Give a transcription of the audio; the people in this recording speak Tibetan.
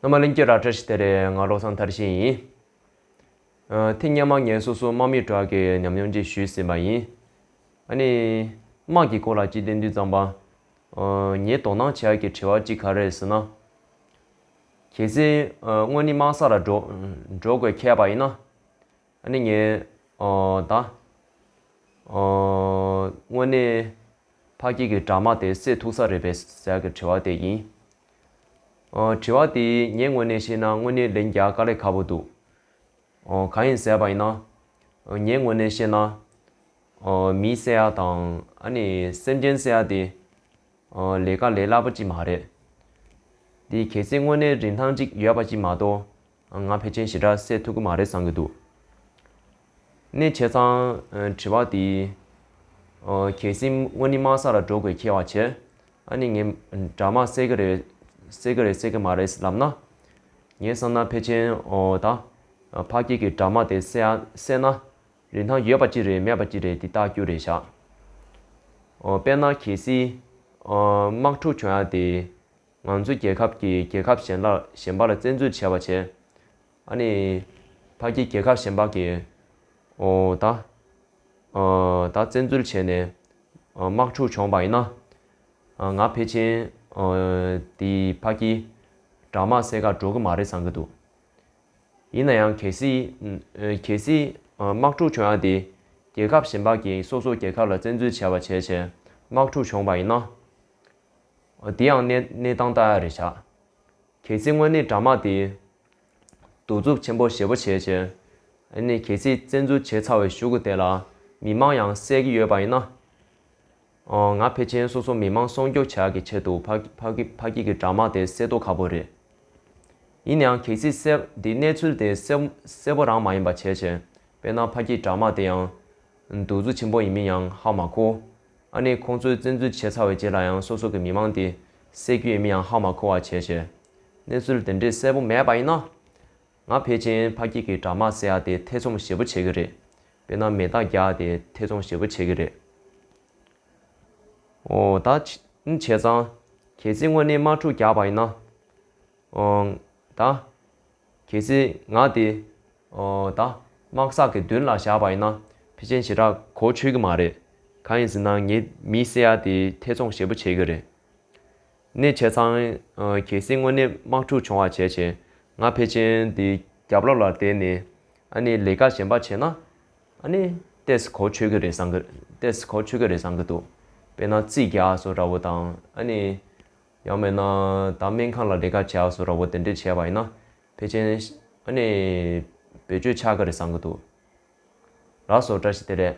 ཨ་མ་གླིང་སྐྱིད་ར་བཀྲ་ཤིས་དེ་རེད་ང་བློ་བཟང་མཐར་ཕྱིན་ཡིན། ཐེངས་སྙན་མ་ངས་སོ་སོ་དམག་མི་དྲག་གི་ཉམས་མྱོང་ཅིག་ཞུས་ཟིན་པ་ཡིན། ཨ་ནི། དམག་གི་སྐོར་ལ་ཅིག་བདེན་འདུན་གཙང་པ། ངས་དོ་སྣང་བྱ་གི་དྲི་བ་གཅིག་ག་རེད་ཟེར་ན། གལ་སྲིད་སྔོན་ནི་དམག་ས་ལ་འགྲོ་འགྲོ་དགོས་ཁེལ་པ་ཡིན་ན། ཨ་ནི་ངས་ད། དངོས་གནས་ཕ་སྐྱིད་ཀྱི་དྲག་དམག་དེ་བསད་ཐུག་ས་རེད་པས་ཟེར་གི་དྲི་བ་དེ་ཡིན། དྲི་བ། དེ་ངའི་ངོས་ནས་བཤད་ན་དངོས་གནས་ལན་རྒྱག་དཀའ་ལས་ཁག་པོ་འདུག་གང་ཡིན་ཟེར་བ་ཡིན་ན། ངའི་ངོས་ནས་བཤད་ན། མི་བསད་ཡ་དང་ཨ་ནི་སེམས་ཅན་བསད་ཡ་དེ། ལས་ཀ་ལས་སླ་པོ་ཅིག་མ་རེད། དེ་གལ་སྲིད་དངོས་གནས་རིན་ཐང་ཅིག་ཡོད་པ་ཅིག་མ་གཏོགས་ང་ཕལ་ཆེན་ཞི་དྲག་སེ་ཐུག་གི་མ་རེད་བསམ་གྱི་འདུག་གནས་བྱས་ཙང་དྲི་བ་དེ་གལ་སྲིད་དངོས་ནི་དམག་ས་ལ་འགྲོ་དགོས་ཁེལ་བ་བྱས་ཨ་ནི་ངས་དྲ་མ་བསད་ཀྱི་རེད་བསད་ཀྱི་རེད་བསད་ཀྱི་མ་རེད་ལབ་ན། ངས་བསམ་ན་ཕལ་ཆེན་ད་ཕ་སྐད་ཀྱི་དྲ་མ་དེ་བསད་ན་རིན་ཐང་ཡོད་པ་ཅི་རེད་མེད་པ་ཅི་རེད་དེ་བརྟག་རྒྱུ་རེད་བཞག་དཔེར་ན་གལ་སྲིད་དམག་འཁྲུག་བྱུང་ཡ་དེ། ང་ཚོ་རྒྱལ་ཁབ་ཀྱིས་རྒྱལ་ཁབ་གཞན་ལ་གཞན་པ་ལ་བཙན་འཛུལ་བྱས་པ་བྱས། ཨ་ནི། ཕ་གི་རྒྱལ་ཁབ་གཞན་པ་གིས། ཨོ་ད། ཨ་ད་བཙན་འཛུལ་བྱས་ནས། དམག་འཁྲུག་བྱུང་བ་ཡིན་ན། ང་ཕེ་ཆིན། དེ་ཕ་གི། དྲག་དམག་སེ་ག་འགྲོ་གི་མ་རེད་བསམ་གི་འདུག། ཡིན་ན་ཡང་གལ་སྲིད། གལ་སྲིད། དམག་འཁྲུག་བྱུང་ཡང་དེ། རྒྱལ་ཁབ་གཞན་པ་གིས་སོ་སོ་རྒྱལ་ཁབ་ལ་བཙན་འཛུལ་བྱས་པ་བྱས་བྱས་དམག་འཁྲུག་བྱུང་བ་ཡིན་ན། དེ་ཡང་གནས་སྟངས་ལྟར་རེ་བྱ། གལ་སྲིད་དངོས་གནས་དྲ་དམག་དེས། གདུག་རྩུབ་ཆེན་པོ་ཞེ་པོ་བྱས་རྗེས། གལ་སྲིད་བཙན་འཛུལ་བྱས་ཚར་བའི་གཞུག་གུ་དེ་ལ་མི་དམངས་ཡང་བསད་ཀྱི་ཡོད་པ་ཡིན་ན། ང་ཕལ་ཆེན་སོ་སོ་མི་དམངས་སྲོང་སྐྱོབ་བྱ་གི་ཆེད་དུ་ཕ་སྐད་ཀྱི་དྲ་དམག་དེ་བསད་དོ་ཁག་པོ་རེད། ཡིན་ནའང་གལ་སྲིད་བསད་དེ་གནས་ཚུལ་དེ་བསད་པོ་རང་མ་ཡིན་པ་བྱས་རྗེས་དཔེར་ན་ཕ་སྐད་དྲ་དམག་དེ་ཡང། གདུག་རྩུབ་ཆེན་པོ་ཡིན་མིན་ཡང་ཧ་མ་གོ། ཨ་ནི་ཁོང་ཚོས་བཙན་འཛུལ་བྱས་ཚར་བའི་རྗེས་ལ་ཡང་སོ་སོ་གི་མི་མང་དེ་སད་རྒྱུའི་མི་ཡང་ཧ་མ་གོ་བ་བྱས་བྱས། གནས་ཚུལ་དེ་འདྲའི་གསལ་པོ་མེད་པ་ཡིན་ན། ང་ཕལ་ཆེན་ཕ་སྐྱིད་ཀྱི་དྲ་དམག་སེ་ཡ་དེ་ཐེ་ཚོམ་ཞེ་པོ་བྱེད་ཀྱི་རེད། དཔེར་ན་མེ་སྟག་རྒྱ་ཡ་དེ་ཐེ་ཚོམ་ཞེ་པོ་བྱེད་ཀྱི་རེད། འོ། ད་ནི་བྱས་ཙང། གལ་སྲིད་དངོས་གནས་དམག་འཁྲུག་རྒྱག་པ་ཡིན་ན། འོ། ད། གལ་སྲིད་ང་དེ་ད་དམག་ཟག་གི་མདུན་ལ་བཞག་པ་ཡིན་ན་ཕི་ཅན་ཞེ་དྲག་གོ་ཆོད་གི་མ་རེད། གང་ཡིན་ཟེར་ན་ངའི་མི་སེ་ཡ་དེ་ཐེ་ཚོམ་ཞེ་པོ་བྱེད་གི་རེད། གནས་བྱས་ཚང་གལ་སྲིད་དངོས་གནས་དམག་འཁྲུག་བྱུང་བ་བྱས་བྱས་ང་ཕེ་ཅན་དེ་རྒྱབ་ལོག་ལ་བསྡད་ནས་ཨ་ནེ་ལས་ཀ་གཞན་པ་བྱས་ན་ཨ་ནེ་ལྟས་གོ་ཆོད་གི་རེད་བསམ་གི་རེད་བསམ་གི་འདུག་དཔེར་ན་རྩིས་རྒྱག་སོ་ར་བོ་དང་ཨ་ནེ། ཡང་མེད་ན་ད་སྨན་ཁང་ལ་བྲེལ་དཀའ་བྱས་ཨ་སོ་ར་བོ་དེ་འདྲས་བྱས་པ་ཡིན་ན་ཕལ་ཆེན། ཨ་ནི། བེད་སྤྱོད་ཆགས་ཀྱི་རེད་བསམ་གྱི་འདུག། ར་སོ་བཀྲ་ཤིས་དེ་རེད།